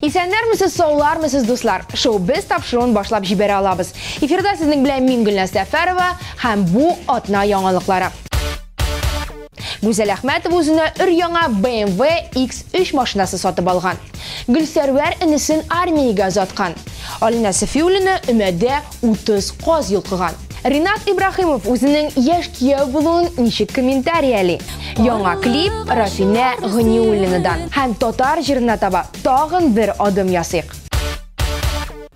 Исәннәрмесез, саулармысыз, дуслар! Шоу-без тапшыруын башлап җибәрә алабыз. Эфирда сезнең белән мин Гөлназ Сәфәрова һәм бу атна яңалыклары. Гүзәл Әхмәтова үзенә өр-яңа BMW X3 машинасы сатып алган. Гөлсәрвәр энесен армиягә озаткан. Алинә Сафиуллина өмәдә Утыз каз йолкыган. Ринат Ибрахимов үзенең яшь кияү булуын ничек комментарияли? Яңа клип Рафинә Гыниуллинадан һәм татар җырына таба тагын бер адым ясыйк.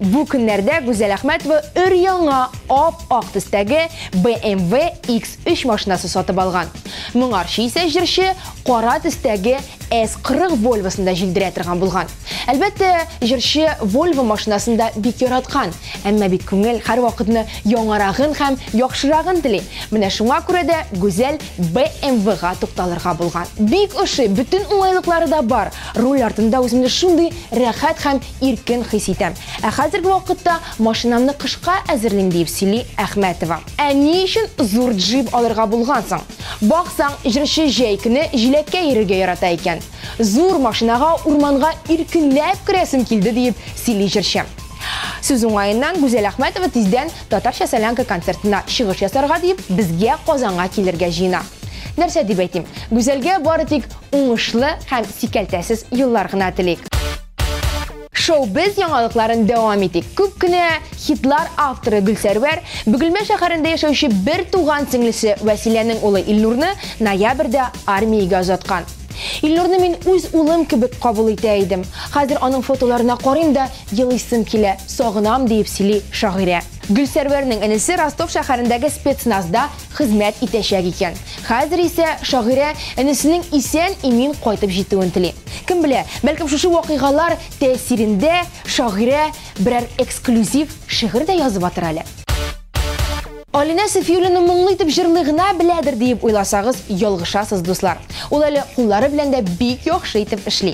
Бу көннәрдә Гүзәл Әхмәтова өр-яңа ап-ак төстәге BMW X3 машинасы сатып алган. Моңарчы исә җырчы кара төстәге S40 Volvoсын да җилдерә торган булган. Әлбәттә, җырчы Volvo машинасын да бик яраткан, әмма бит күңел һәрвакытны яңарагын һәм яхшырагын тели. Менә шуңа күрә дә Гүзәл BMW-га тукталырга булган. Бик ошый, бөтен уңайлыклары да бар. Руль артында үземне шундый рәхәт һәм иркен хис итәм. Ә хәзерге вакытта машинамны кышка әзерлим, диеп сөйли Әхмәтова. Ә ни өчен зур джип алырга булган соң? Баксаң, җырчы җәй көне җиләккә йөрергә ярата икән. Зур машинага урманга иркенләп керәсем килде, диеп сөйли җырчы. Сүз уңаеннан, Гүзәл Әхмәтова тиздән Татарча солянка концертына чыгыш ясарга дип, безгә Казанга килергә җыена. Нәрсә дип әйтим, Гүзәлгә бары тик уңышлы һәм сикәлтәсез еллар гына телик. Шоу-без яңалыкларын дәвам итик. Күп кенә хитлар авторы Гөлсәрвәр Бөгелмә шәһәрендә яшәүче бертуган сеңлесе Вәсиләнең улы Илнурны ноябрьдә армиягә озаткан. Илнурны мин үз улым кебек кабул итә идем. Хәзер аның фотоларына карыйм да, елыйсым килә, сагынам, диеп сөйли шагыйрә. Гөлсәрвәрнең энесе Ростов шәһәрендәге спецназда хезмәт итәчәк икән. Хәзер исә шагыйрә энесенең исән-имин кайтып җитүен тели. Кем белә, бәлкем шушы вакыйгалар тәэсирендә шагыйрә берәр эксклюзив шигырь дә язып атыр әле. Алинә Сафиуллина моңлы итеп җырлый гына беләдер диеп уйласагыз, ялгышасыз, дуслар. Ул әле куллары белән дә бик яхшы итеп эшли.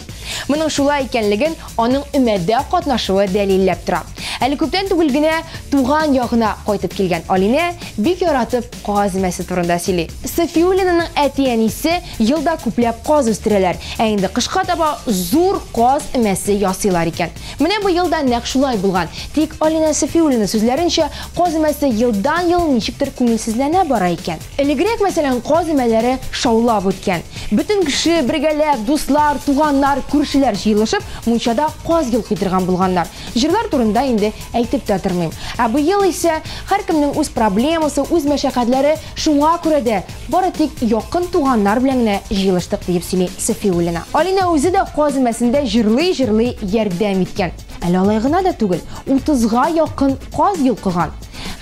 Моның шулай икәнлеген аның өмәдә катнашуы дәлилләп тора. Әле күптән түгел генә туган ягына кайтып килгән Алинә бик яратып каз өмәсе турында сөйли. Сафиуллинаның әти-әнисе елда күпләп каз үстерәләр, ә инде кышка таба зур каз өмәсе ясыйлар икән. Менә быел да нәкъ шулай булган. Тик Алинә Сафиуллина сүзләренчә, каз өмәсе елдан-ел ничектер күңелсезләнә бара икән. Элегрәк, мәсәлән, каз өмәләре шаулап үткән. Бөтен кеше, бергәләп, дуслар, туганнар, күршеләр җыелышып, мунчада каз йолкый торган булганнар. Җырлар турында инде әйтеп тә тормыйм. Ә быел исә, һәркемнең үз проблемасы, үз мәшәкатьләре. Шуңа күрә дә бары тик якын туганнар белән генә җыелыштык, диеп сөйли Сафиуллина. Алинә үзе дә каз өмәсендә җырлый-җырлый ярдәм иткән. Әле алай гына да түгел, утызга якын каз йолкыган.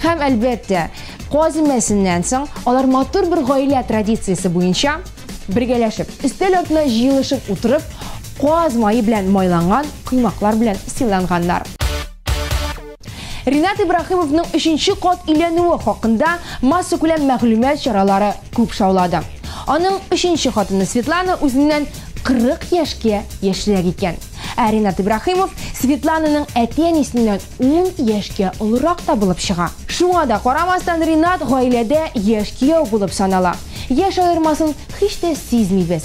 Һәм, әлбәттә, каз өмәсеннән соң алар матур бер гаилә традициясе буенча, бергәләшеп, өстәл артына җыелышып утырып, каз мае белән майланган коймаклар белән сыйланганнар. Ринат Ибраһимовның өченче кат өйләнүе хакында массакүләм мәгълүмат чаралары күп шаулады. Аның өченче хатыны Светлана үзеннән 40 яшькә яшьрәк икән. Ә Ринат Ибраһимов Светлананың әти-әнисеннән 10 яшькә олырак та булып чыга. Шуңа да карамастан, Ринат гаиләдә яшь кияү булып санала. Яшь аермасын һич тә сизмибез.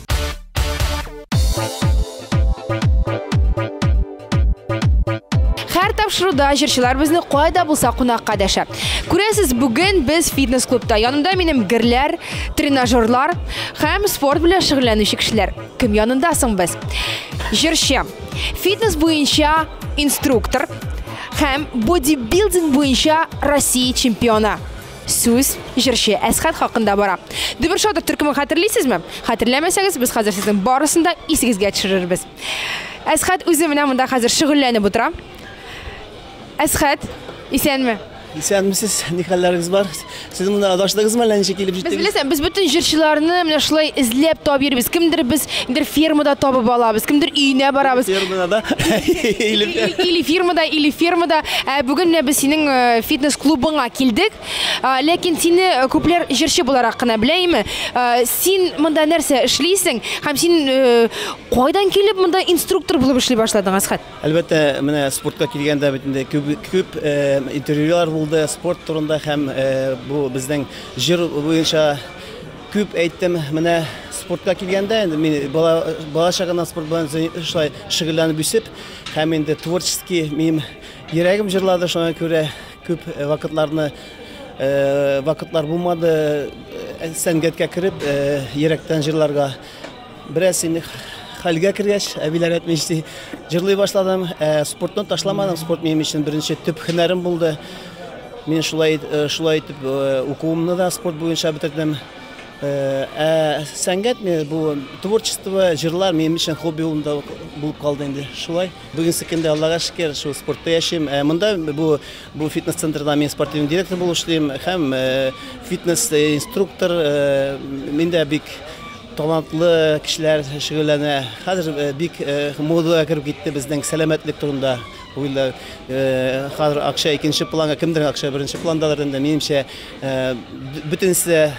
Һәр тапшыруда җырчылар безне кайда булса кунакка дәшә. Күрәсез, бүген без фитнес-клубта. Янымда минем герләр, тренажерлар һәм спорт белән шөгыльләнүче кешеләр. Кем янында соң без? Җырчы, фитнес буенча инструктор һәм бодибилдинг буенча Россия чемпионы. Сүз җырчы Әсхәт хакында бара. Дөбер шатыр төркемен хәтерлисезме? Хәтерләмәсәгез, без хәзер сезнең барысын да исегезгә төшерербез. Әсхәт үзе менә монда хәзер шөгыльләнеп утыра. Әсхәт, исәнме? Исәнмесез, ни хәлләрегез бар? Сез монда адаштыгызмы әллә ничек килеп Без җиттегез? беләсең, без бөтен җырчыларны менә шулай эзләп табып йөрибез. Кемдер без Кемдер фермада табып алабыз, кемдер өенә барабыз. Фермада да. Или фермада, или фермада. Ә бүген менә без синең э, фитнес-клубыңа килдек. Ә, Ләкин сине э, күпләр җырчы буларак кына белә име? Ә, Син монда нәрсә эшлисең? Һәм син э, кайдан килеп монда инструктор булып эшли башладың, Асхат? Әлбәттә, менә спортка килгәндә бит инде күп күп э, интервьюлар булды спорт турында һәм э, бу безнең җыр буенча Күп әйттем, менә спортка килгәндә, инде мин бала, бала чагымнан спорт белән шулай шөгыльләнеп үсеп, һәм инде творческий минем йөрәгем җырлады, шуңа күрә күп вакытларны вакытлар булмады сәнгатькә кереп, йөрәктән җырларга. Бераз инде хәлгә кергәч, әбиләр әйтмеш ди, җырлый башладым. Ә, спортны ташламадым, спорт минем өчен беренче төп һөнәрем булды. Мин шулай э, шулай итеп э, укуымны да спорт буенча бетердем. Э, ә сәнгать мен бу творчество, җырлар минем өчен хобби булында булып калды инде. Шулай. Бүгенге көндә Аллага шөкер, шул спортта яшим. Ә монда бу бу фитнес центрда мин спортивный директор булып эшлим һәм фитнес инструктор. Миндә бик Талантлы кешеләр шөгыльләнә. Хәзер бик модага кереп китте безнең сәламәтлек турында уйлар. Хәзер акча икенче планга, кемдер акча беренче пландадыр инде. Минемчә, бөтенесе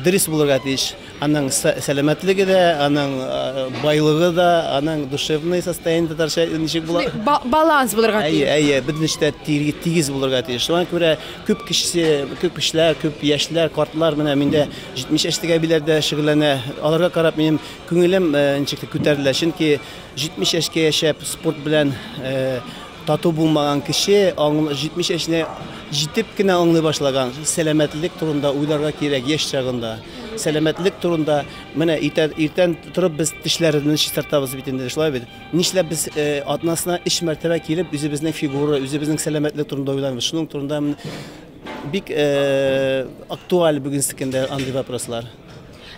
дөрес булырга тиеш. Аның сәламәтлеге дә, аның байлыгы да, аның душевный состояние татарча ничек була? Баланс булырга тиеш. Әйе, әйе, бөтенесе дә тигез булырга тиеш. Шуңа күрә күп кешесе, күп кешеләр, күп яшьләр, картлар менә миндә 70 яшьтәге әбиләр дә шөгыльләнә. Аларга карап минем күңелем ничек тә күтәрелә, чөнки 70 яшькә яшәп спорт белән тату булмаган кеше 70 яшенә җитеп кенә аңлый башлаган. Сәламәтлек турында уйларга кирәк яшь чагында. Сәламәтлек турында менә иртән торып без тешләребезне чистартабыз бит инде, шулай бит. Нишләп без атнасына 3 мәртәбә килеп үзебезнең фигура, үзебезнең сәламәтлек турында уйланмыйбыз? Шуның турында Бик актуаль бүгенсекен дә андый вопрослар.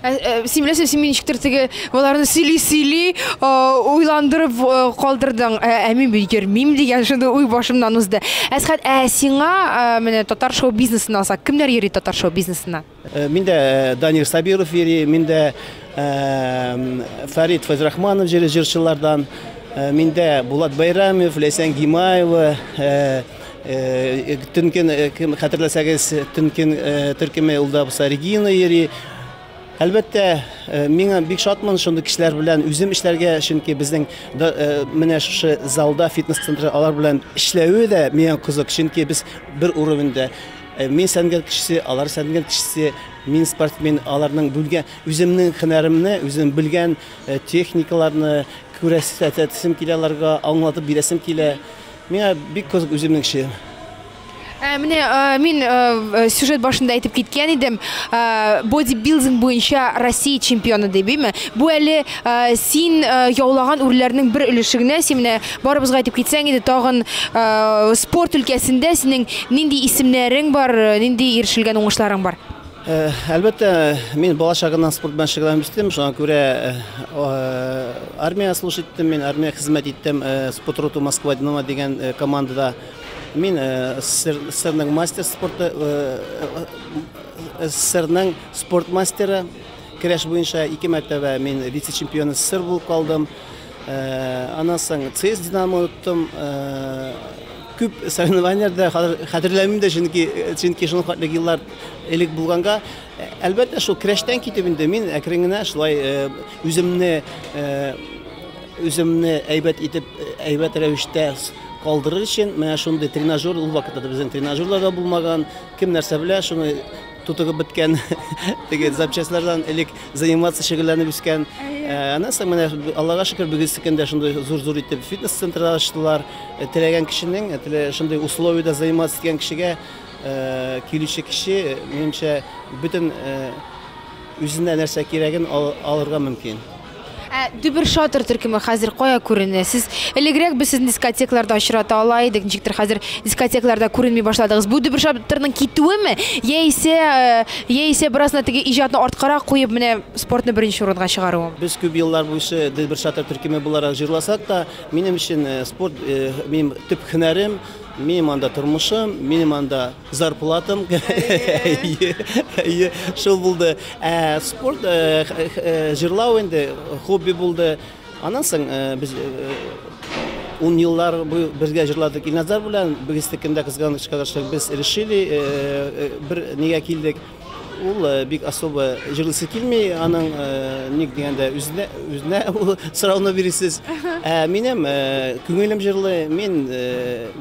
Ә, ә, син беләсең, син мине ничектер теге боларны сөйли-сөйли уйландырып калдырдың. Ә, ә мин бит йөрмим дигән шундый уй башымнан узды. Әсхәт, ә сиңа менә татар шоу бизнесына алсак, кемнәр йөри татар шоу бизнесына? Э, мин дә э, Данир Сабиров йөри, мин дә э, Фарид Фазрахманов җире җырчылардан, мин дә Булат Байрамов, Ләйсән Гимаева, Төнкен, кем хәтерләсәгез, Төнкен төркеме ул да булса Регина йөри. Әлбәттә, миңа бик шатмын шундый кешеләр белән үзем эшләргә, чөнки безнең менә шушы залда, фитнес-центрда алар белән эшләве дә миңа кызык, чөнки без бер уровеньдә. Мин сәнгать кешесе, алар сәнгать кешесе, мин спортсмен, аларның бүлгә үземнең хөнәремне, үзем белгән техникаларны күрәсәтәсем килә аларга, аңлатып бирәсем килә. Миңа бик кызык үземнең эшем. Менә мин сюжет башында әйтеп киткән идем, бодибилдинг буенча Россия чемпионы дип, име? Бу әле син яулаган үрләрнең бер өлеше генә, син менә Барыбызга әйтеп китсәң иде, тагын э, спорт өлкәсендә синең нинди исемнәрең бар, э, нинди ирешелгән уңышларың бар? Э, әлбәттә, мин бала чагымнан спорт белән шөгыльләнеп үстем, шуңа күрә э, э, армия служб иттем, мин армия хезмәт иттем, э, спорт роту Москва Динамо дигән э, командада. Мин э, СССР СССРның мастер спорты э, э, СССРның спорт мастеры, көрәш буенча ике мәртәбә мин вице-чемпион СССР булып калдым. Аннан соң ЦС Динамо оттым. Күп соревнованияләрдә хәтерләмим дә, чөнки чөнки шуның хәтлек еллар элек булганга, әлбәттә, шул крәштән китеп инде мин әкрен генә шулай үземне үземне әйбәт итеп, әйбәт рәвештә калдырыр өчен, менә шундый тренажер ул вакытта безнең тренажерлар да булмаган, Кем нәрсә белә, шуны тутыгып беткән, теге запчастлардан элек заниматься, шөгыльләнеп үскән. Ә, Аннан соң менә Аллага шөкер, бүгенсекен дә шундый зур-зур итеп фитнес-центр ачтылар. Э, Теләгән кешенең, э, телә- шундый условиедә заниматься иткән кешегә э, килүче кеше, э, минемчә, бөтен э, үзенә нәрсә кирәген ал- алырга мөмкин. Ә Дөбершатыр төркеме хәзер кая күренә? Сез элегрәк без сезне дискотекларда очрата ала идек, ничектер хәзер дискотекларда күренми башладыгыз. Бу Дөбершатырның китүеме? Яисә, э, яисә бераз гына теге иҗатны арткарак куеп, менә спортны беренче урынга чыгаруым? Без күп еллар буйчы Дөбершатыр төркеме буларак җырласак та, минем өчен э, спорт э, минем төп һөнәрем, минем анда тормышым, минем анда Зарплатам, әйе, әйе, шул булды. Ә спорт, э, х- х- э, җырлау инде хобби булды. Аннан соң э, без э, ун еллар буе бергә җырладык Илназар белән. Без текендә кызганычка каршы без решили э, э, бер нигә килдек. Ул бик особо җырлыйсы килми, аның ник дигәндә үзенә үзенә ул сорауны бирисез. Ә минем күңелем җырлый, мин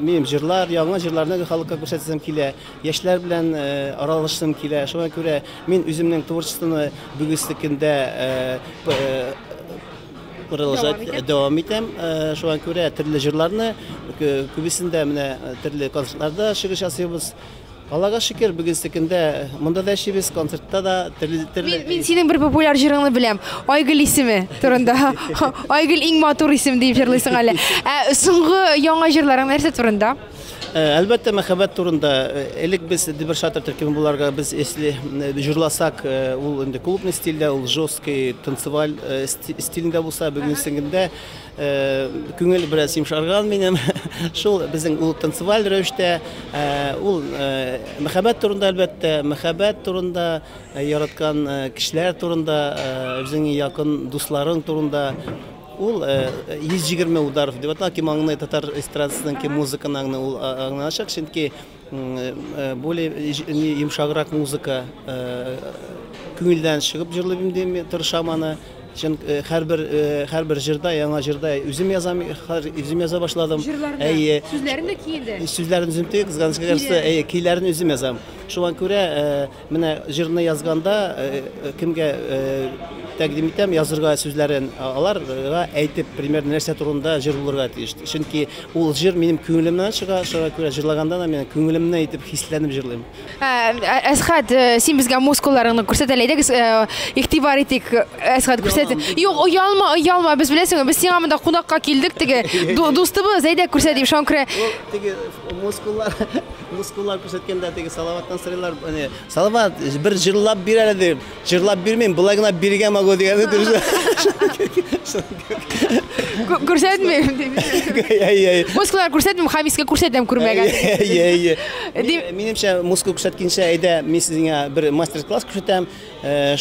минем җырлар, яңа җырларны халыкка күрсәтәсем килә, яшьләр белән аралашасым килә. Шуңа күрә мин үземнең творчествоны бүгенге көндә продолжать дәвам итәм. Шуңа күрә төрле җырларны күбесендә менә төрле концертларда чыгыш ясыйбыз. Аллага шөкер, бүгенсекендә монда да эшлибез, концертта да төрле төрле. Мин синең бер популяр җырыңны беләм. Айгөл исеме турында. Айгөл иң матур исем дип җырлыйсың әле. Ә соңгы яңа җырларың нәрсә турында? Э, әлбәттә, мәхәббәт турында. Э, элек без Дибер Шатер төркеме буларга без если э, җырласак, ул инде клубный стильдә, ул жесткий танцеваль стильдә булса, бүгенсегендә Күңел бераз йомшарган минем. Шул безнең ул танцеваль рәвештә, ул мәхәббәт турында әлбәттә, мәхәббәт турында, яраткан кешеләр турында, үзеңнең якын дусларың турында. Ул 120 ударов дип атала, кем аңлый татар эстрадасының, кем музыканы аңлый, ул аңлаячак, чөнки Более йомшаграк музыка, күңелдән чыгып җырлыйм дим, тырышам аны. Чын һәрбер һәрбер җырда, яңа җырда үзем язам, үзем яза башладым. Әйе. Сүзләрен дә ки инде. Сүзләрен үзем тик, кызганычка каршы, әйе, көйләрен үзем язам. Шуңа күрә Менә җырны язганда кемгә тәкъдим итәм, язырга сүзләрен аларга әйтеп, примерно нәрсә турында җыр булырга тиеш. Чөнки ул җыр минем күңелемнән чыга, шуңа күрә җырлаганда да мин күңелемне әйтеп хисләнеп җырлыйм. Әсхәт, син безгә мускулларыңны күрсәт әле, әйдәгез, игътибар итик. Әсхәт күрсәт. Юк, оялма, оялма, без беләсеңме, без сиңа монда кунакка килдек, теге дустыбыз, әйдә күрсәт дип, шуңа күрә. Теге мускуллар. Мускуллар күрсәткәндә теге Салаваттан сорыйлар, әне, Салават, бер җырлап бир әле дип. Җырлап бирмим, болай гына биргә могу дигәне дөрес. Күрсәтмим дип. Әй-әй. Мускуллар күрсәтмим, Хамискә күрсәтәм күрмәгән. Әй-әй. Минемчә, мускул күрсәткәнчә, әйдә, мин сезгә бер мастер-класс күрсәтәм.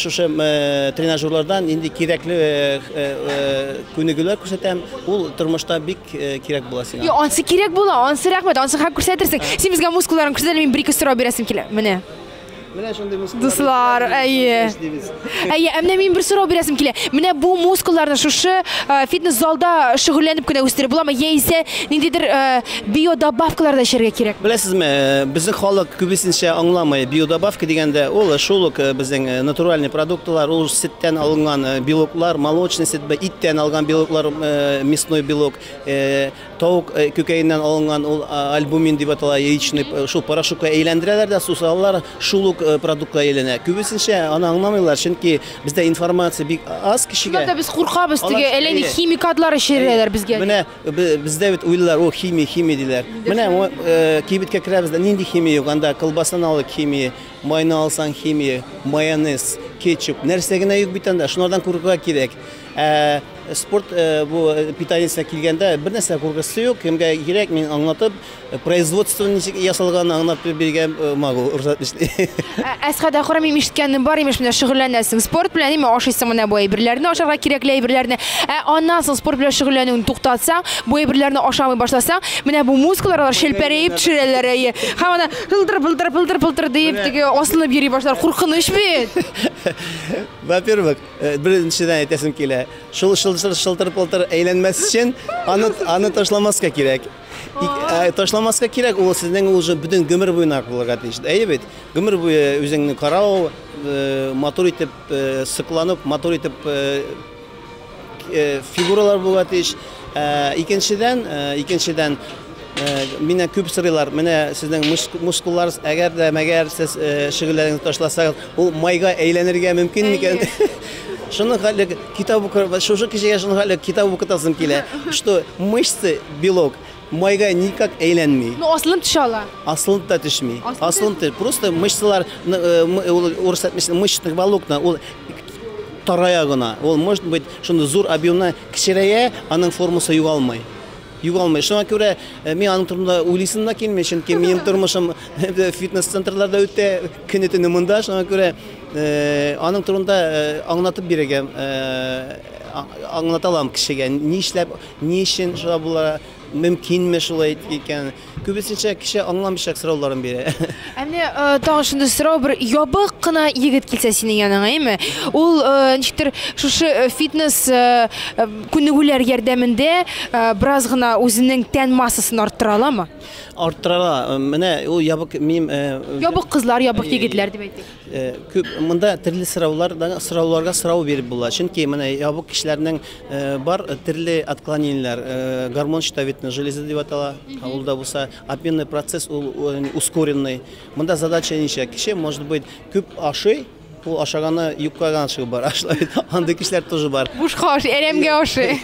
Шушы тренажерлардан инде кирәкле күнегүләр күрсәтәм. Ул тормышта бик кирәк була сиңа. Йо, ансы кирәк була, ансы рәхмәт, ансы хак күрсәтерсең. Син безгә мускулларың күрсәтә, мин бер-ике сорау бирәсем килә. Менә. Менә шундый мускуллар. Дуслар, әйе. Әйе, ә менә мин бер сорау бирәсем килә. Менә бу мускулларны шушы фитнес-залда шөгыльләнеп кенә үстереп буламы? Яисә ниндидер Биодобавкалар да эчәргә кирәк. Беләсезме, безнең халык күбесенчә аңламый. Биодобавка дигәндә, ул шул ук безнең натуральный продуктылар, ул сөттән алынган белоклар, молочный сөт, иттән алган белоклар, мясной белок, тавык күкәеннән алынган ул альбумин дип атала, яичный, шул порошокка әйләндерәләр дә су салалар, шул ук продуктка әйләнә. Күбесенчә аны аңламыйлар, чөнки бездә информация бик аз кешегә. Шулай да без куркабыз, теге әллә ни химикатлар эчерәләр безгә дип. Менә Бездә бит уйлыйлар, о, химия, химия диләр. Менә кибеткә керәбез дә, нинди химия юк, анда колбасаны алыйк, химия, майны алсаң, химия, майонез, кетчуп, нәрсә генә юк бит анда, шулардан куркырга кирәк. Ә спорт бу питаниесенә килгәндә, бернәрсә куркысы юк, кемгә кирәк, мин аңлатып, Производство ничек ясалган аңлап биргән могу рөхсәт итсә. Әсхәт Әхрам мин ишеткәнем бар имеш менә шөгыльләнәсең спорт белән име ашыйсың менә бу әйберләрне ашарга кирәкле әйберләрне. Ә аннан соң спорт белән шөгыльләнүен туктатсаң, бу әйберләрне ашамый башласаң, менә бу мускуллар алар челпәрәеп төшерәләр әйе. Һәм ана пылдыр пылдыр пылдыр пылдыр диеп теге асылынып йөри башлар. Куркыныч бит. Во-первых, беренчедән әйтәсем килә, шул шылтыр шылтыр пылтыр әйләнмәс өчен аны аны ташламаска кирәк. Ташламаска кирәк, ул сезнең уже бөтен гомер буена булырга тиеш. Әйе бит, гомер буе үзеңне карау, матур итеп сыкланып, матур итеп фигуралар булырга тиеш. Икенчедән, икенчедән Менә күп сырыйлар, менә сезнең мускулларыз, әгәр дә мәгәр сез шөгыльләрегезне ташласагыз, ул майга әйләнергә мөмкин микән? Шуны хәллек Китап укырга шушы кешегә шуның әле китап укытасым килә, что мышцы белок майга никак әйләнми. Ну асылын төшә ала. Асылын да төшми. Асылын төш. Просто мышцалар э, урыс әйтмешне мышечных волокна ул тарая гына. Ул может быть шуны зур объемны кечерәя, аның формасы югалмый. Югалмый. Шуңа күрә э, мин аның турында уйлыйсым да килми, чөнки минем тормышым э, фитнес-центрларда үтә. Көне-төне монда, шуңа күрә аның турында аңлатып бирергә, аңлата алам кешегә, ни эшләп, ни өчен шулай була, мөмкинме шулай икән. Күбесенчә кеше аңламыйча сорауларын бирә. Ә менә тагын шундый сорау, бер ябык кына егет килсә синең яныңа, әйме? Ул ничектер шушы фитнес күнегүләр ярдәмендә бераз гына үзенең тән массасын арттыра аламы? Арттырала. Менә ул ябык мим. Э, ябык кызлар, ябык егетләр дип әйтик. Э, күп монда төрле сораулардан сорауларга сорау биреп була. Чөнки менә ябык кешеләрнең э, бар төрле отклонениеләр, гормон щитовидной железы дип атала. Ул да булса обменный процесс ул ускоренный. Монда задача ничә? Кеше может быть күп ашый, Ул ашаганы юкка гына чыгып бара шулай бит. Андый кешеләр тоже бар. Бушка ашый, әрәмгә ашый.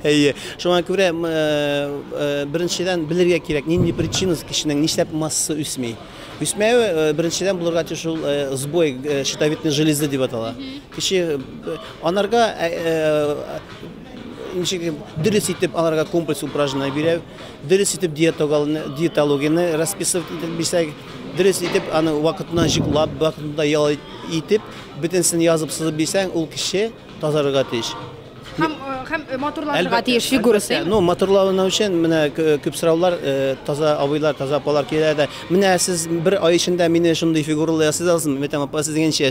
Әйе. Шуңа күрә э, э, беренчедән белергә кирәк, нинди причинасы кешенең нишләп массасы үсми. Үсмәве э, беренчедән булырга тиеш ул сбой щитовидной железы дип атала. Кеше анарга Ничек дөрес итеп аларга комплекс упражнение бирә, дөрес итеп диетологияне расписывать итеп бирсәк, дөрес итеп аны вакытына җыклап, вакытында ял итеп, бөтенсен язып сызып бирсәң, ул кеше тазарырга тиеш. Һәм э, һәм э, матурланырга тиеш фигурасы. Ну, матурлауны өчен менә күп сораулар э, таза абыйлар, таза апалар килә дә. Менә сез бер ай эчендә мине шундый фигуралы ясый аласызмы? Мәтәм апа, сез дигәнчә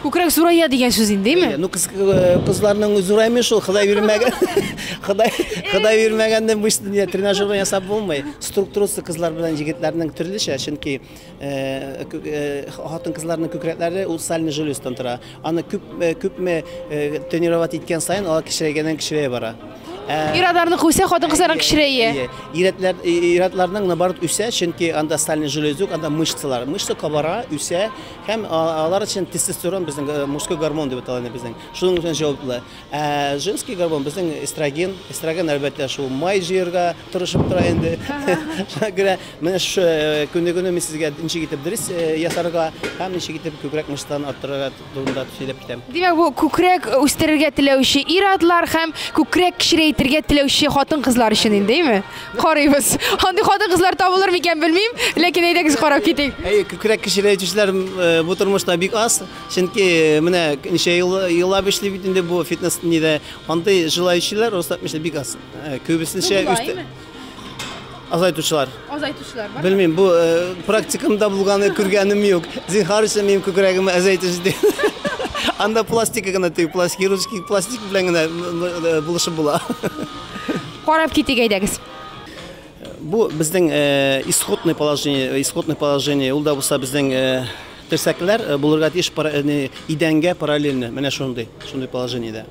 Күкрәк зурая дигән сүз инде, әйме? Ну, кыз, э, кызларның зураймый шул, Ходай бирмәгән. Ходай, Ходай бирмәгәнне бу дөнья тренажерда ясап булмый. Структурасы кызлар белән егетләрнең төрлечә, чөнки э, кү- э, хатын кызларның күкрәкләре ул сальный желездан тора. Аны күп э, күпме э, тренировать иткән саен алар кечерәйгәннән кечерәя бара. Ә, Ирадарны куйса, хатын-кызларга кечерәя. Әйе. Иратлар, иратларның наоборот үсә, чөнки анда сальный желез юк, анда мышцалар. Мышца кабара, үсә, Һәм алар өчен тестостерон безнең э, мужской гормон дип атала безнең. Шуның өчен җаваплы. Ә женский гормон безнең эстроген. Эстроген әлбәттә шул май җыярга тырышып тора инде. Шуңа күрә менә шу э, күнегүне мин сезгә ничек итеп дөрес э, ясарга һәм ничек итеп күкрәк мышцаларын арттырырга турында сөйләп китәм. Димәк, бу күкрәк үстерергә теләүче ир-атлар һәм күкрәк кечерәйтергә теләүче хатын-кызлар өчен индеме? Карыйбыз. Андый хатын-кызлар табылыр микән белмим, ләкин әйдәгез карап китик. Әйе, күкрәк кешеләре җүшләр бу тормышта бик аз. Чөнки менә ничә ел еллап эшли бит инде бу фитнес нидә. Андый җылаючылар русат мешә бик аз. Күбесенчә үсте. Азайтучылар. Азайтучылар бар. Белмим, бу практикамда булганы күргәнем юк. Зинхар өчен минем күкрәгемә азайтыч ди. Анда пластика гына тию, пластик хирургический пластик белән генә булышып була. Карап китик әйдәгез. Бу безнең исходный положение, исходный положение ул да булса безнең терсәкләр э, булырга тиеш э, идәнгә параллельно менә шундый шундый положениедә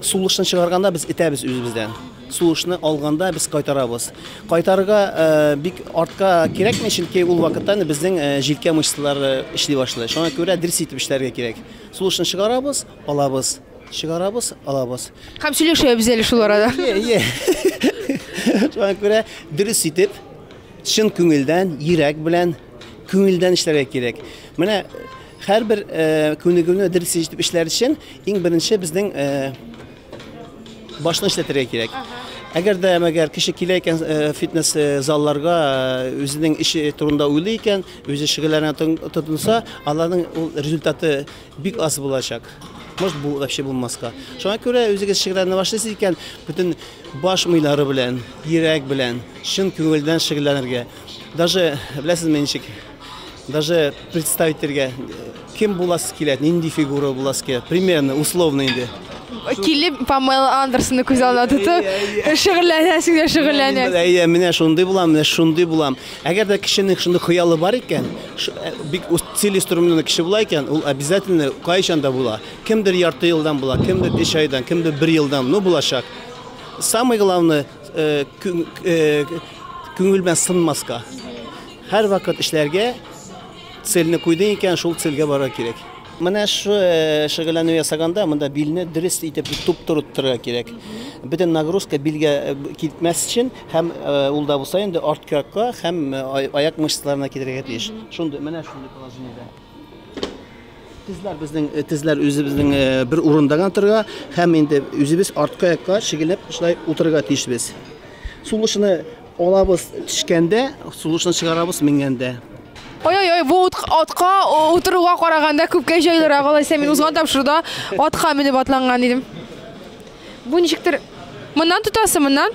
сулышны чыгарганда без итәбез үзебездән сулышны алганда без кайтарабыз кайтарырга э, бик артка кирәкми чөнки ул вакытта безнең җилкә мышцалары эшли башлый шуңа күрә дөрес итеп эшләргә кирәк сулышны чыгарабыз Алабыз. Чыгарабыз, алабыз. Һәм сөйләшәбез әле шул арада. Ие, ие. Шуңа күрә дөрес итеп, чын күңелдән, йөрәк белән, күңелдән эшләргә кирәк. Менә һәрбер э, күнегүне дөрес итеп эшләр өчен иң беренче безнең э, башны эшләтергә кирәк. Әгәр дә мәгәр кеше килә икән э, фитнес э, залларга э, үзенең эше турында уйлый икән, үзе шөгыльләнә тон- тотынса, аларның ул результаты Бик аз булачак. Может бу вообще булмаска. Шуңа күрә үзегез шигырьләрне башлыйсыз икән, бөтен баш мыйлары белән, йөрәк белән, чын күңелдән шигырьләнергә. Даже беләсезме ничек? Даже представить итәргә кем буласы килә, нинди фигура буласы килә. Примерно, условно инде. Килеп Памела Андерсонны күз алдына тотып, шигырьләнәсең дә шигырьләнәсең. Әйе, менә шундый булам, менә шундый булам. Әгәр дә кешенең шундый хыялы бар икән, бик целеустремленный кеше була икән, ул обязательно кайчан да була. Кемдер ярты елдан була, кемдер өч айдан, кемдер бер елдан, ну булачак. Самый главный э, э, күңел белән сынмаска. Һәр вакыт эшләргә цельне куйдың икән, шул цельгә барырга кирәк. Менә шу шөгыльләнү ясаганда монда билне дөрес итеп туп-туры тотырга кирәк. Бөтен нагрузка билгә китмәс өчен һәм ул да булса инде арткакка һәм аяк мышцаларына китерергә тиеш. Шундый, менә шундый положениедә. Тезләр безнең тезләр үзебезнең бер урында гына торырга һәм инде үзебез арткы аякка шигелеп шулай утырырга тиешбез. Сулышны Алабыз төшкәндә, сулышны чыгарабыз менгәндә. Ой-ой-ой, бу атка утыруга караганда күпкә җайлырак. Алайса мин узган тапшыруда атка менеп атланган идем. Бу ничектер моннан тотасы, моннан?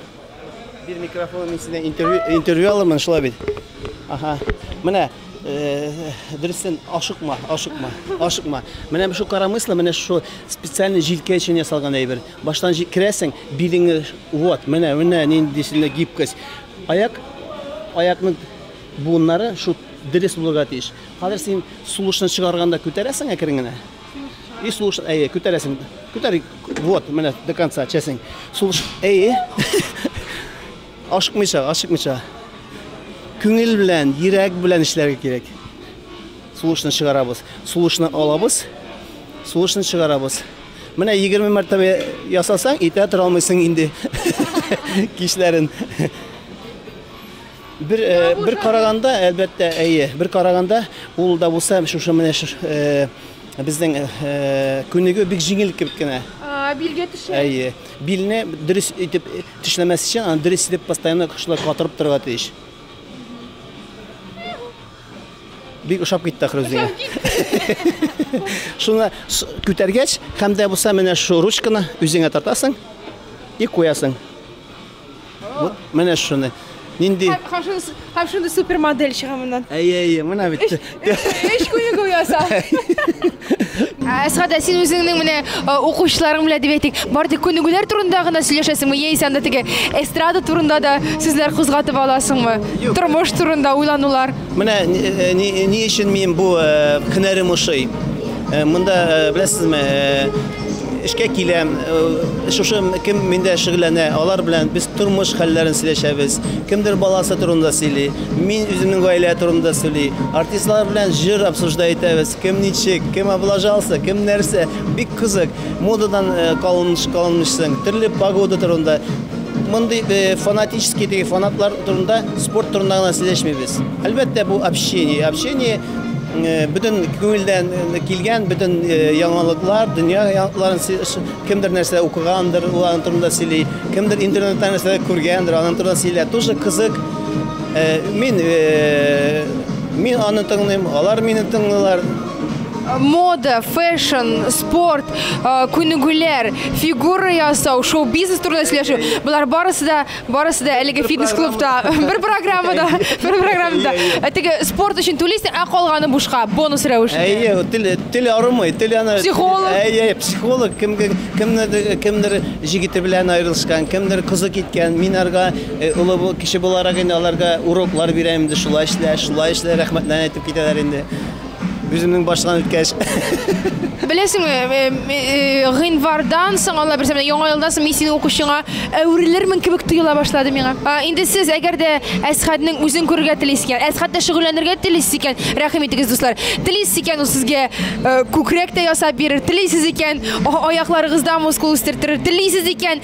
Бир микрофон, мин синә интервью интервью алырмын, шулай бит. Аха. Менә э, дөресен ашыкма, ашыкма, ашыкма. Менә шу карамыслы, менә шу специальный җилкә өчен ясалган әйбер. Баштан җиткерәсең, билеңе вот, менә, менә нинди синдә гибкость. Аяк, аякның буыннары шул дөрес булырга тиеш. Хәзер син сулышны чыгарганда күтәрәсең әкрен генә. И сулыш, әйе, күтәрәсең. Күтәр, вот, менә до конца чәсең. Сулыш, әйе. Ашыкмыйча, ашыкмыйча. Күңел белән, йөрәк белән эшләргә кирәк. Сулышны чыгарабыз. Сулышны алабыз. Сулышны чыгарабыз. Менә 20 мәртәбә ясасаң, итә тора алмыйсың инде. Кичләрен. Бер э, бер караганда, әлбәттә, әйе, бер караганда ул да булса шушы менә э, безнең э, күнегү бик җиңел кебек кенә. Билгә төшә. Әйе. Билне дөрес итеп төшләмәс өчен, аны дөрес итеп постоянно шулай катырып торырга тиеш. Бик ошап китте ахры үзеңә. Шуны күтәргәч, һәм дә булса менә шу ручканы үзеңә тартасың и куясың. Вот менә шуны. Нинди? Һәм шуны супермодель чыга моннан. Әйе, әйе, менә бит. Эш күнегү яса. Әсгат, син үзеңнең менә укучыларың белән дип әйтик, бар тик күнегүләр турында гына сөйләшәсеңме, яисә анда теге эстрада турында да сүзләр кузгатып аласыңмы? Тормыш турында уйланулар. Менә ни өчен мин бу һөнәрем ошый. Монда беләсезме, эшкә киләм, шушы кем миндә шөгыльләнә, алар белән без тормыш хәлләрен сөйләшәбез. Кемдер баласы турында сөйли, мин үземнең гаилә турында сөйли. Артистлар белән җыр обсуждай итәбез. Кем ничек, кем облажался, кем нәрсә. Бик кызык. Модадан калыныш калынмышсың. Төрле погода турында. Мондый фанатический теге фанатлар турында, спорт турында гына сөйләшмибез. Әлбәттә, бу общение. Общение бөтен күңелдән килгән, бөтен яңалыклар, дөнья яңалыкларын кемдер нәрсә укыгандыр, ул аның турында сөйли. Кемдер интернеттан нәрсәдер күргәндер, аның турында сөйлә. Тоже кызык. Э, мин э, мин аны тыңлыйм, алар мине тыңлыйлар. Мода, фэшн, спорт, э, күнегүләр, фигура ясау, шоу-бизнес турында сөйләшү. Болар барысы да, барысы да әлеге фитнес-клубта, бер программада, бер программада. Ә теге спорт өчен түлисең, ә калганы бушка, бонус рәвешендә. Әйе, тел тел арымый, тел аны Психолог. Әйе, психолог кемгә кемнедер кемдер җигете белән аерылышкан, кемдер кызы киткән, мин арга Олы бу кеше буларак инде аларга уроклар бирә инде шулай эшлә, шулай эшлә рәхмәтләрен әйтеп китәләр инде. Үземнең баштан үткәч. Беләсеңме, э, э, гыйнвардан соң, алла бирсә, менә яңа елдан соң мин синең укучыңа әверелермен кебек тоела башлады миңа. А, инде сез әгәр дә Әсхәтнең үзен күрергә телисез икән, Әсхәттә шөгыльләнергә телисез икән, рәхим итегез, дуслар. Телисез икән, ул сезгә э, күкрәк тә ясап бирер, телисез икән, а- аякларыгызда мускул үстертер, телисез икән,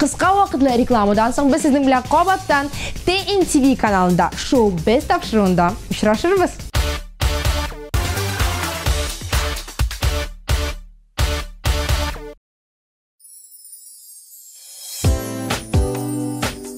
Кыска вакытлы рекламадан соң без сезнең белән кабаттан TNTV каналында шоу без тапшыруында очрашырбыз.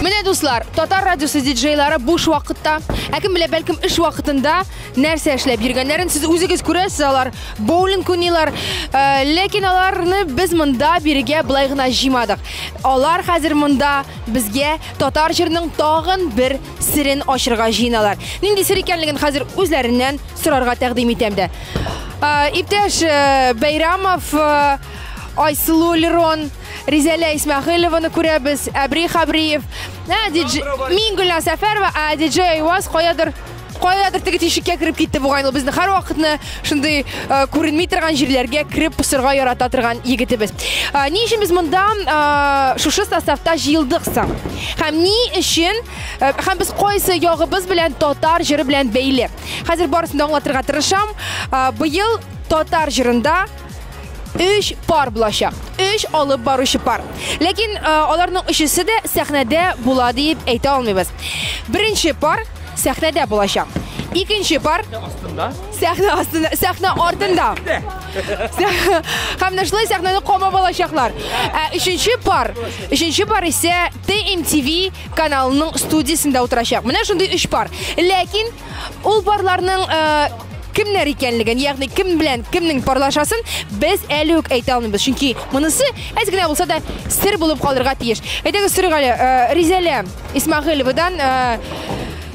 Менә дуслар, татар радиосы диджейлары буш вакытта, ә кем белә, бәлкем эш вакытында нәрсә эшләп йөргәннәрен сез үзегез күрәсез, алар боулинг уйныйлар, э, ләкин аларны без монда бирегә былай гына җыймадык. Алар хәзер монда безгә татар җырының тагын бер серен ачырга җыеналар. Нинди сер икәнлеген хәзер үзләреннән сорарга тәкъдим итәм дә. Э, Иптәш э, Бәйрамов, э, Айсылу Лерон, Ризәлә Исмәхилованы күрәбез, Әбри Хабриев, ә, дидж... мин Гөлназ Сәфәрова, ә диджей Айваз каядыр каядыр теге тишеккә кереп китте бугай ул безне һәр вакытны шундый э, күренми торган җирләргә кереп посырга ярата торган егетебез э, ни өчен без монда э, шушы составта җыелдык соң һәм ни өчен һәм без кайсы ягыбыз белән татар җыры белән бәйле хәзер барысын да аңлатырга тырышам быел татар җырында өч пар булачак өч алып баручы пар ләкин э, аларның өчесе дә сәхнәдә була диеп әйтә алмыйбыз беренче пар сәхнәдә булачак икенче пар астында сәхнә астында сәхнә артында һәм шулай сәхнәне камап алачаклар ә өченче пар өченче пар исә тмтв каналының студиясендә утырачак менә шундый өч пар ләкин Ул парларның кемнәр икәнлеген, ягъни кем белән кемнең парлашасын без әле үк әйтә алмыйбыз. Чөнки монысы әз генә булса да сер булып калырга тиеш. Әйдәгез сорыйк әле, э, Ризәлә Исмагыйловадан э,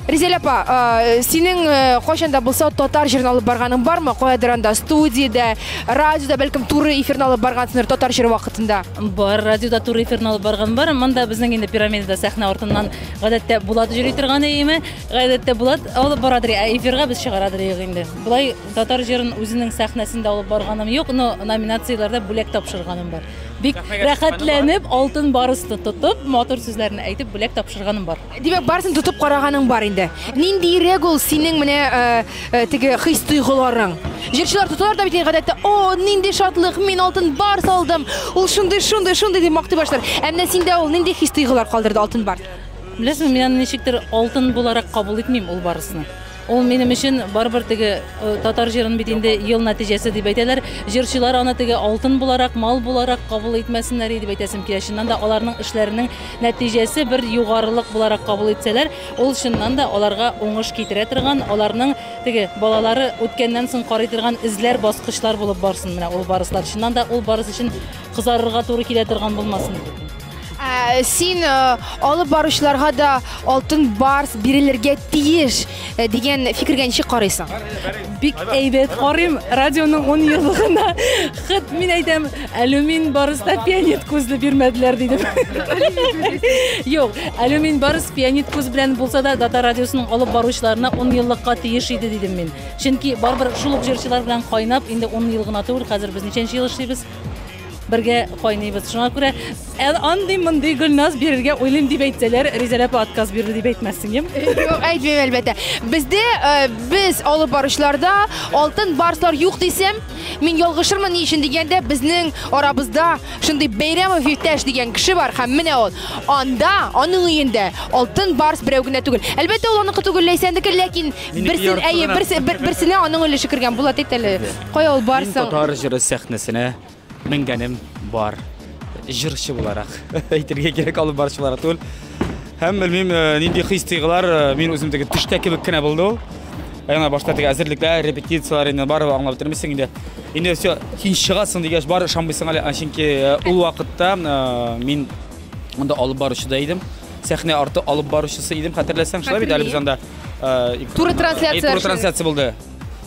Ризәлә апа, э, синең кайчан да булса татар җырын алып барганың бармы? Каядыр анда студиядә, радиода, бәлкем туры эфирны алып баргансыңдыр татар җыры вакытында. Бар, радиода туры эфирны алып барган бар. Монда безнең инде пирамидада сәхнә артыннан гадәттә Булат җыри торган иеме? Гадәттә Булат алып барадыр, ә эфирга без чыгарадыр юк инде. Болай татар җырын үзенең сәхнәсендә алып барганым юк, но номинацияләрдә бүләк тапшырганым бар. Бик рәхәтләнеп, алтын барысты тотып, матур сүзләрне әйтеп, бүләк тапшырганым бар. Димәк, барысын тотып караганың бар инде. Ниндиерәк ул синең менә э, э, теге хис-тойгыларың? Җырчылар тоталар да бит инде гадәттә, о, нинди шатлык, мин алтын бар салдым, ул шундый, шундый, шундый дип мактый башлар. Ә менә синдә ул нинди хис-тойгылар калдырды алтын бар? Беләсеңме, мин аны ничектер алтын буларак кабул итмим ул барысны. Ул минем өчен барыбер теге э, татар җырын бит инде ел нәтиҗәсе дип әйтәләр. Җырчылар аны теге алтын буларак, мал буларак кабул итмәсеннәр иде дип әйтәсем килә. Чыннан да аларның эшләренең нәтиҗәсе бер югарылык буларак кабул итсәләр, ул чыннан да аларга уңыш китерә торган, аларның теге балалары үткәннән соң карый торган эзләр, баскычлар булып барсын менә ул барыслар. Чыннан да ул барыс өчен кызарырга туры килә торган булмасын. Ә, син ә, алып баручыларга да алтын барс бирелергә тиеш ә, дигән фикергә ничек карыйсың? Бик әйбәт карыйм. Радионың 10 еллыгына хет мин әйтәм, алюмин барыста пионет күзле бирмәделәр дидем. Юк, алюмин барыс пионет күз белән булса да Дата радиосының алып баручыларына 10 еллыкка тиеш иде дидем мин. Чөнки барбер шул ук җырчылар белән кайнап инде 10 ел гына түгел, хәзер без ничәнче ел эшлибез? Бергә кайныйбыз. Шуңа күрә ә, андый мондый гөлназ бирергә уйлыйм дип әйтсәләр, Ризәлә апа отказ бирде дип әйтмәссең, юк? Юк, әйтмим әлбәттә. Бездә э, без алып баручыларда алтын барслар юк дисәм, мин ялгышырмын ни өчен дигәндә, безнең арабызда шундый Бәйрәмов иптәш дигән кеше бар һәм менә ул. Анда, аның өендә алтын барс берәү генә түгел. Әлбәттә, ул аныкы түгел, Ләйсәнеке, ләкин Минеке берсен, яртысы әйе, гына. берсе, бер, берсенә аның өлеше кергән. Булат әйт әле. Кая ул барсың? Мин татар җыры сәхнәсенә менгәнем бар. Җырчы буларак әйтергә кирәк алып барчы буларак түгел. Һәм белмим э, нинди хис-тойгылар э, мин үзем теге төштә кебек кенә булды ул. Яна башта теге әзерлекләр, репетицияләр инде барып аңлап бетермисең инде. Инде все, син чыгасың дигәч бар ышанмыйсың әле, чөнки э, ул вакытта мин анда алып баручы да идем. Сәхнә арты алып баручысы идем, хәтерләсәң, шулай бит әле без анда. Туры трансляция. Туры трансляция булды.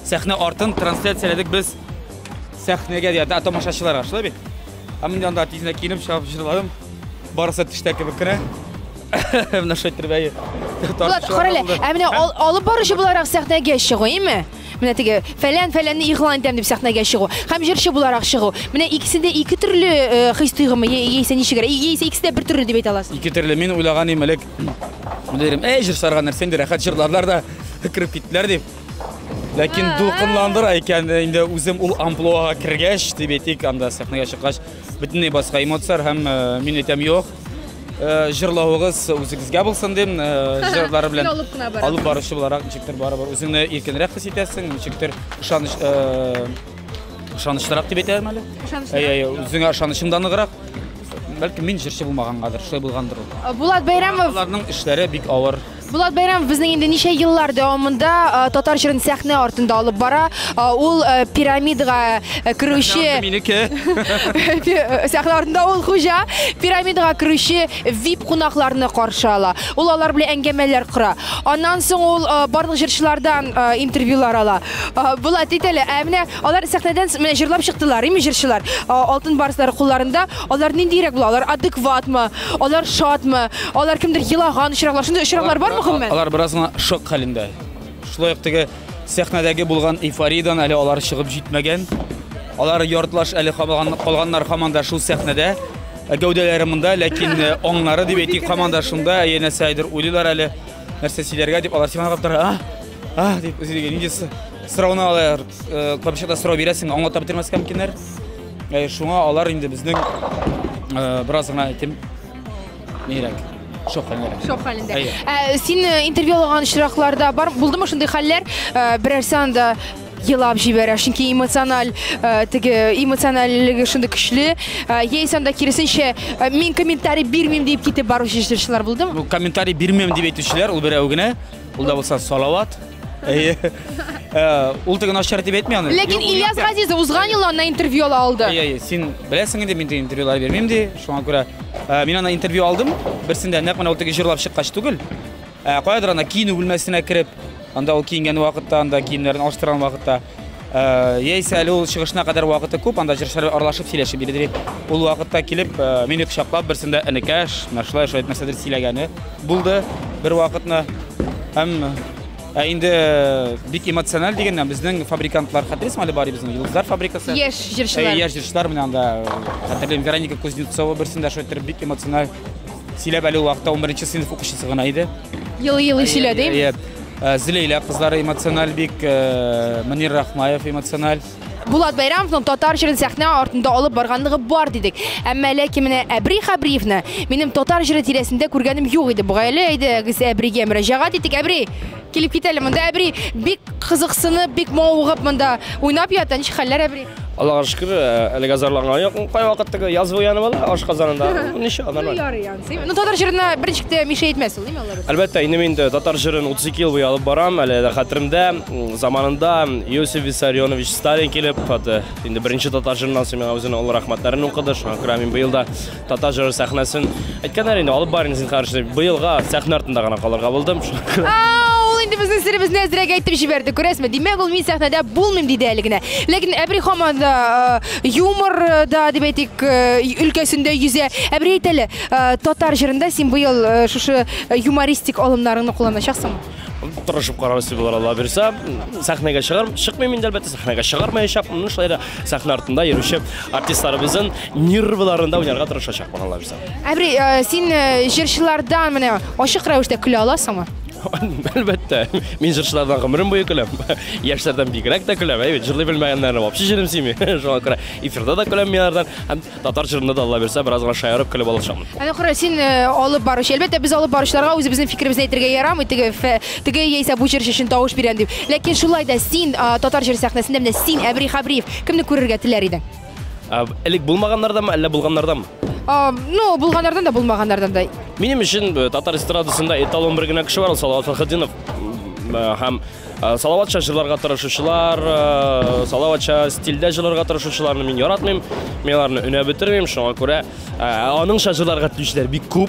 Сәхнә артын трансляцияләдек без сәхнәгә дия, да тамашачыларга, шулай бит? Ә мин анда тизенә киенеп чыгып җырладым. Барысы төштә кебек кенә. Менә шулай итеп бәе. Булат, карале, ә менә ал, алып баручы буларак сәхнәгә чыгу, име? Менә теге фәлән фәләнне игълан итәм дип сәхнәгә чыгу һәм җырчы буларак чыгу. Менә икесендә ике төрле э, хис тойгымы яисә ничегрәк? Яисә икесе дә бер төрле дип әйтә аласыз? Ике төрле. Мин уйлаган идем элек Дирем, әй, җырсарга нәрсә инде, рәхәт җырларлар да кереп киттеләр дип. Ләкин дулкынландыра икән инде үзем ул амплуага кергәч, дип әйтик, анда сәхнәгә чыккач, бөтенләй башка эмоцияләр һәм э, мин әйтәм, юк, э, җырлавыгыз үзегезгә булсын дим, э, җырлар белән Син алып кына бара. алып баручы буларак ничектер барыбер үзеңне иркенрәк хис итәсең, ничектер ышаныч э, ышанычлырак дип әйтәм әле. Ышанычлырак. Әйе, әйе, үзеңә ышанычың да ныграк. Бәлки мин җырчы булмагангадыр, шулай булгандыр ул. Э, Булат Бәйрәмов. Аларның эшләре бик авыр. Булат Бәйрәмов безнең инде ничә еллар дәвамында э, татар җырын сәхнә артында алып бара. Э, Ул э, пирамидага э, керүче Минеке. Пи- сәхнә артында ул хуҗа пирамидага керүче VIP кунакларны каршы ала. Ул алар белән әңгәмәләр кора. Аннан соң ул э, барлык җырчылардан э, интервьюлар ала. Э, Булат әйт әле, ә менә Алар сәхнәдән с- менә җырлап чыктылар, ими җырчылар. А, Алтын барслар кулларында. Алар ниндиерәк була? Алар адекватмы? Алар шатмы? Алар кемдер елаган очраклар, шундый очраклар бармы гомумән? Алар бераз гына шок хәлендә. Шулай ук теге сәхнәдәге булган эйфориядән әле алар чыгып җитмәгән. Алар яртылаш әле кабаган- калганнар һаман да шул сәхнәдә. Ә Гәүдәләре монда, ләкин э, аңнары дип әйтик, һаман да шунда, янәсе әйдер уйлыйлар әле, нәрсә сөйләргә дип. Алар сиңа карап тора, а? Ах, дип үзегә нинди сорауны алар э, капчыкта сорау бирәсең, аңлата бетермәскә мөмкиннәр. Э, шуңа алар инде безнең э, бераз гына әйтим нирәк. Шок хәлендә. Шок хәлендә. Ә, син интервью алган очракларда бар булдымы шундый хәлләр? Берәрсе анда елап җибәрә, чөнки эмоциональ теге эмоциональлеге шундый көчле. Яисә анда киресенчә мин комментарий бирмим дип китеп баручы җырчылар булдымы? Комментарий бирмим дип әйтүчеләр ул берәү генә. Ул да булса Салават. Әйе. Э, ул теге начар дип әйтми аны. Ләкин Ильяс Газизов узган ел аннан интервью ала алды. Әйе, син беләсең инде, мин дә интервьюлар бирмим ди. Шуңа күрә э, мин аны интервью алдым. Берсендә нәкъ менә ул теге җырлап чыккач түгел. Э, каядыр ана киенү бүлмәсенә кереп, анда ул киенгән вакытта, анда киемнәрен алыштырган вакытта Яисә әле ул чыгышына кадәр вакыты күп, анда җырчылар аралашып сөйләшеп йөри дип. Ул вакытта килеп, мине кочаклап, берсендә энекәш, менә шулай шулай нәрсәдер сөйләгәне булды бер вакытны. Һәм Ә инде э, бик эмоциональ дигәннән безнең фабрикантлар хәтерсез әле бар безнең Йолдызлар фабрикасы. Яшь җырчылар. Э, яшь җырчылар менә анда э, хәтерлим Вероника Кузнецова берсендә шайтыр бик эмоциональ сөйләп әле вакытта 11 сыйныф укучысы гына иде. Елый-елый сөйләде. Еп. Э, Зилейлә кызлары эмоциональ бик, э, Мөнир Рахмаев эмоциональ. Булат Байрамовның татар җырын сәхнә артында алып барганлыгы бар дидек. Әмма ләкин менә Әбри Хабриевны минем татар җыры тирәсендә күргәнем юк иде. Бугай әле әйдәгез Әбригә мөрәҗәгать итик. Әбри, килеп кит әле монда. Әбри бик кызыксынып, бик мавыгып монда уйнап ята. Ничек хәлләр Әбри? Аллага шөкер, э, әлегә зарланган юк. Кайвакыт теге яз буяны була, ашказанында. Ничек, нормаль. Ну, татар җырына берничек тә мишә әйтмәс ул, әйме алар? Әлбәттә, инде мин татар җырын 32 ел буе алып барам, әле дә хәтеремдә, заманында Иосиф Виссарионович Сталин килеп, хаты, инде беренче татар җырыннан соң миңа үзенең олы рәхмәтләрен укыды, шуңа күрә мин быел да татар җыры сәхнәсен әйткәннәр инде, алып барыйм, зинһар, быелга сәхнә артында гына калырга булдым. Ул инде безнең серебезне әзрәк әйтеп җибәрде, күрәсезме? Димәк, ул мин сәхнәдә булмыйм диде әле генә. Ләкин әбри хаман да юмор э, да дип әйтик э, өлкәсендә йөзә ә бер әйт әле э, татар җырында син быел шушы юмористик алымнарыңны кулланачаксың тырышып карарбыз дип булыр алла бирсә сәхнәгә чыгар чыкмыйм инде әлбәттә сәхнәгә чыгармаячакмын шулай да сәхнә артында йөрүче артистларыбызның нервларында уйнарга тырышачакмын алла бирсә Ә бер э, син э, җырчылардан менә ачык рәвештә көлә аласыңмы? Әлбәттә, мин җырчылардан гомерем буе көләм. Яшьләрдән бигрәк тә көләм, әйбәт, җырлый белмәгәннәрне вообще җырым сими. Шуңа күрә эфирда да көләм миңардан, һәм татар җырында да Алла бирсә, бераз гына шаярып көлеп алышамын. Әнә кара, син э, алып баручы. Әлбәттә, без алып баручыларга үзебезнең фикеребезне әйтергә ярамый, теге фе- теге яисә бу җырчы өчен тавыш бирәм дип. Ләкин шулай да син а, татар җыр сәхнәсендә менә син Әбри Хабриев кемне күрергә теләр идең? Ә, Элек булмаганнардамы, әллә булганнардамы? А, ну, булганнардан да, булмаганнардан да. Минем өчен э, татар эстрадасында эталон бер генә кеше бар, ул Салават Фәхетдинов. М, э, Һәм э, Салаватча җырларга тырышучылар, э, Салаватча стильдә җырларга тырышучыларны мин яратмыйм. Мин аларны өнәп бетермим, шуңа күрә э, аныңча җырларга телүчеләр бик күп.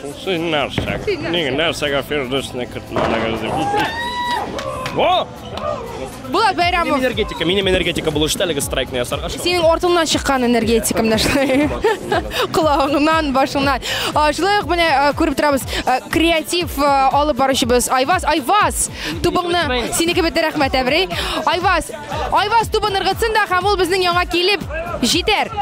Шул син нәрсә? Ник нәрсәгә Фирдүсне кертмәдегез дип. Во! Булат Бәйрәмов. Минем энергетика, минем энергетика булу өчен әлеге страйкны ясарга шул. Синең артыңнан чыккан энергетика менә шулай. Колагыңнан, башыңнан. А, Шулай ук менә а, күреп торабыз, а, креатив а, алып баручыбыз Айваз. Айваз, тубыңны синеке бетте рәхмәт, Әбрей. Айваз, Айваз тубын ыргытсын да һәм ул безнең яңа килеп җитәр.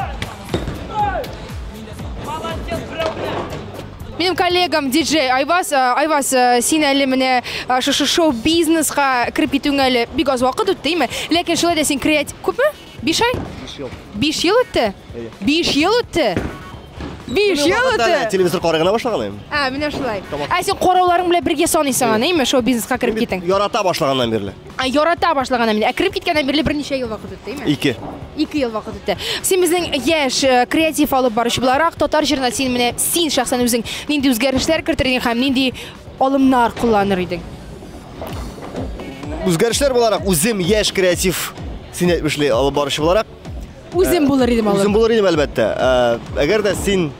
Минем коллегам диджей Айвас, э, Айвас, э, син әле менә э, шушы шоу-бизнеска кереп китүеңә әле бик аз вакыт үтте, әйме? Ләкин шулай да син креатив күпме? Биш ай? Биш ел. Биш ел үтте? Биш ел үтте? Биш ел үтте? Телевизор карый гына башлаганым. Ә, менә шулай. Ә син карауларың белән бергә саныйсың аны, әйме, шоу-бизнеска кереп китең? Ярата башлаганнан бирле. Ә ярата башлаганнан бирле, ә кереп киткәннән бирле берничә ел вакыт үтте, әйме? Ике. Ике ел вакыт үтте. Син безнең яшь э, креатив алып баручы буларак, татар җырына син менә син шәхсән үзең нинди үзгәрешләр кертер идең һәм нинди алымнар кулланыр идең? Үзгәрешләр буларак үзем яшь креатив син әйтмешли алып баручы буларак Үзем булыр идем алып. Үзем булыр идем, әлбәттә. Әгәр дә син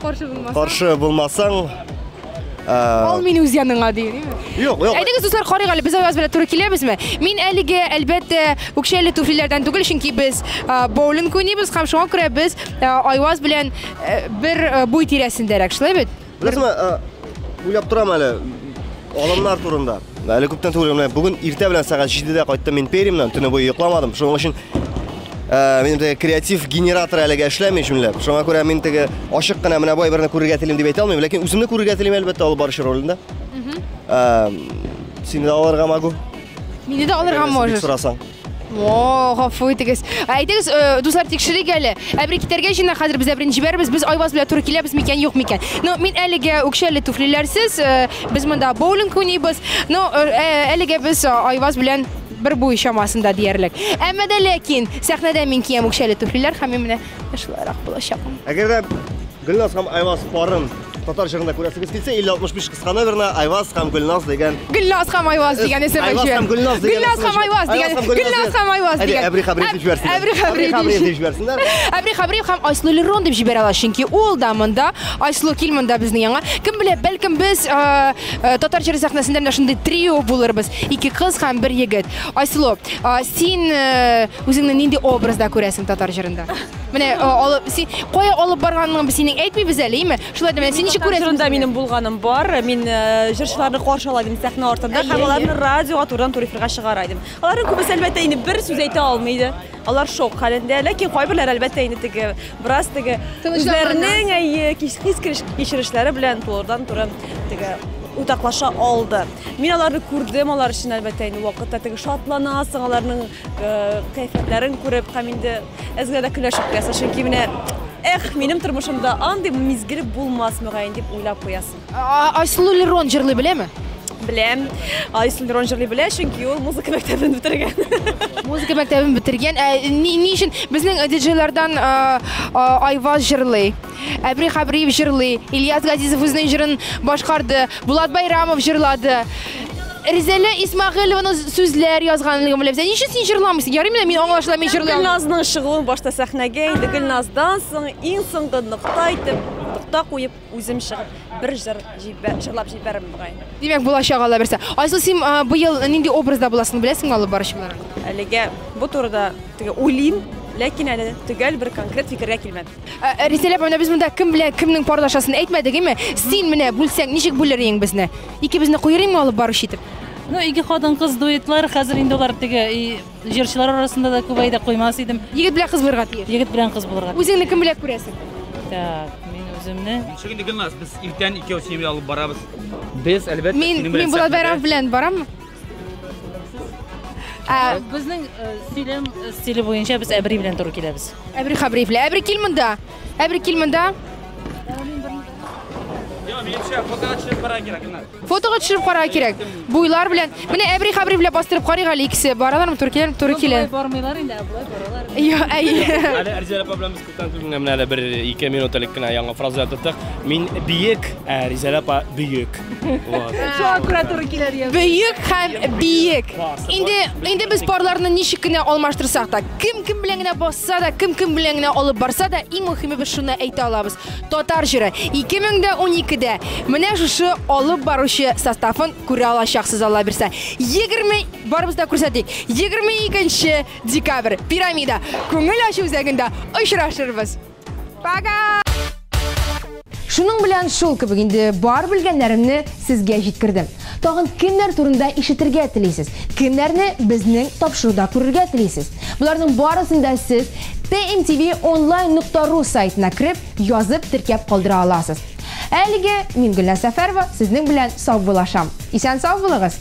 каршы булмасаң, каршы булмасаң, Ал мин үз яныңа дигән, яме? Юк, юк. Әйдәгез, дуслар, карыйк әле, без Аяз белән туры киләбезме? Мин әлеге, әлбәттә, үкчәле туфлиләрдән түгел, чөнки без боулинг уйныйбыз һәм шуңа күрә без Аяз белән бер буй тирәсендәрәк, шулай бит? Беләсеңме, э, уйлап торам әле алымнар турында. Әле күптән түгел менә бүген иртә белән сәгать 7-дә кайттым мин Перимнан, төне буе йокламадым. Шуның өчен э, минем теге креатив генератор әлегә эшләми җүнләп. Шуңа күрә мин теге ачык кына менә бай берне күрергә телим дип әйтә алмыйм, ләкин үземне күрергә телим әлбәттә ул барчы ролендә. Э, Сине дә алырга могу. Мине дә алырга Әгәр син бик можешь. сорасаң. О, гафу итегез. Әйтегез, э, дуслар, тикшерик әле. Ә бер китәргә җыена хәзер без әбрен җибәрбез. Без Айваз белән туры киләбез микән, юк микән. Ну, мин әлегә үкчәле туфлиләрсез, э, без монда боулинг уйныйбыз. Ну, э, э, әлегә без э, Айваз белән бер буй чамасында диярлек. Әмма дә ләкин сәхнәдә мин киям үкчәле туфлиләр һәм мин менә шулайрак булачакмын. Әгәр дә Гөлназ һәм Айваз парын татар җырында күрәсегез килсә, 5065 кыска номерына Айваз һәм Гөлназ дигән Гөлназ һәм Айваз дигән исем Айваз һәм Гөлназ дигән Гөлназ һәм Айваз дигән Гөлназ һәм Айваз дигән Әбри Хабриев дип җибәрсен. Әбри Хабриев дип җибәрсеннәр. Әбри Хабриев һәм Айслу Лерон дип җибәрә ала, чөнки ул да монда, Айслу кил монда безнең яңа. Кем белә, бәлкем без э, э, татар җыры сәхнәсендә менә шундый трио булырбыз. Ике кыз һәм бер егет. Айслу, э, син э, үзеңне нинди образда күрәсең татар җырында? Менә алып син кая алып барганыңны без синең әйтмибез әле, име? Шулай да менә син ничек күрәсең? Җырында минем булганым бар. Мин җырчыларны каршыла идем сәхнә артында һәм аларны радиога турыдан тур эфирга чыгара идем. Аларның күбесе әлбәттә инде бер сүз әйтә алмый иде. Алар шок хәлендә, ләкин кайберләр әлбәттә инде теге бераз теге үзләренең әйе хис кичерешләре белән турыдан туры теге уртаклаша алды. Мин аларны күрдем, алар өчен әлбәттә инде вакытта теге шатланасың, аларның кәефләрен күреп һәм инде Әзгә дә көләчәк яса, чөнки менә Эх, минем тормышымда андый мизгел булмас мөгаен дип уйлап куясың. Айсылу Лерон җырлый беләме? Беләм. Айсылу Лерон җырлый белә, чөнки ул музыка мәктәбен бетергән. Музыка мәктәбен бетергән. Ә ни өчен безнең диджейлардан Айваз җырлый? Әбри Хабриев җырлый, Ильяс Газизов үзенең җырын башкарды, Булат Байрамов җырлады. Ризәлә Исмагыйлованы сүзләр язганлыгын беләбез. Ә ничек син җырламыйсың? Ярый менә мин аңлашыла мин җырлый алмыйм. Гөлназның чыгуын башта сәхнәгә инде Гөлназдан соң иң соңгы нокта итеп, нокта куеп үзем чыгып бер җыр җибәр, җырлап җибәрәм бугай. Димәк, булачак алла берсе. Айсыл, син а, быел нинди образда буласың, беләсеңме алып баручылар? Әлегә бу турыда теге уйлыйм, ләкин әле төгәл бер конкрет фикергә килмәдем. Ә, Ризәлә апа, менә без монда кем белән кемнең парлашасын әйтмәдек, әйме? Син менә бүлсәң, ничек бүлер идең безне? Икебезне куер идеңме алып баручы итеп? Ну, ике хатын-кыз дуэтлар, хәзер инде алар теге и, җырчылар арасында да күбәй дә куймас идем. Егет белән кыз булырга тиеш. Егет белән кыз булырга. Үзеңне кем белән күрәсең? Так, мин үземне Ничек инде Гөлназ, без иртән икәү синең белән алып барабыз. Без әлбәттә Мин синең мин белән Булат сәхнәдә. Бәйрәмов белән бараммы? Ә безнең э, сөйләм э, стиле буенча без әбри белән туры киләбез. Әбри Хабриев, әбри кил монда. Әбри кил монда. Фотога төшереп карарга кирәк. Буйлар белән. Менә Әбри Хабриев белән бастырып карыйк әле икесе. Баралармы туры киләләрме, туры килә. Бормыйлар инде, ә булай баралар. Йо, әйе. Әле Арзия апа белән без Күптән түгел генә менә әле бер ике минут элек кенә яңа фраза яттык. Мин биек, ә Ризәлә апа бөек. Вот. Шуңа күрә туры килә дигән. Бөек һәм биек. Инде инде без парларны ничек кенә алмаштырсак та, кем кем белән генә басса да, кем кем белән генә алып барса да, иң мөһиме без шуны әйтә алабыз. Татар җыры 2012-дә менә шушы алып баручы составын күрә алачаксыз Алла бирсә. 20 барыбыз да күрсәтик. 22 нче Декабрь, пирамида, күңел ачу үзәгендә очрашырбыз. Пока! Шуның белән шул кебек инде бар белгәннәремне сезгә җиткердем. Тагын кемнәр турында ишетергә телисез? Кемнәрне безнең тапшыруда күрергә телисез? Боларның барысын да сез tmtvonline.ru сайтына кереп, язып теркәп калдыра аласыз. Әлеге мин Гөлназ Сәфәрова сезнең белән саубуллашам. Исән сау булыгыз!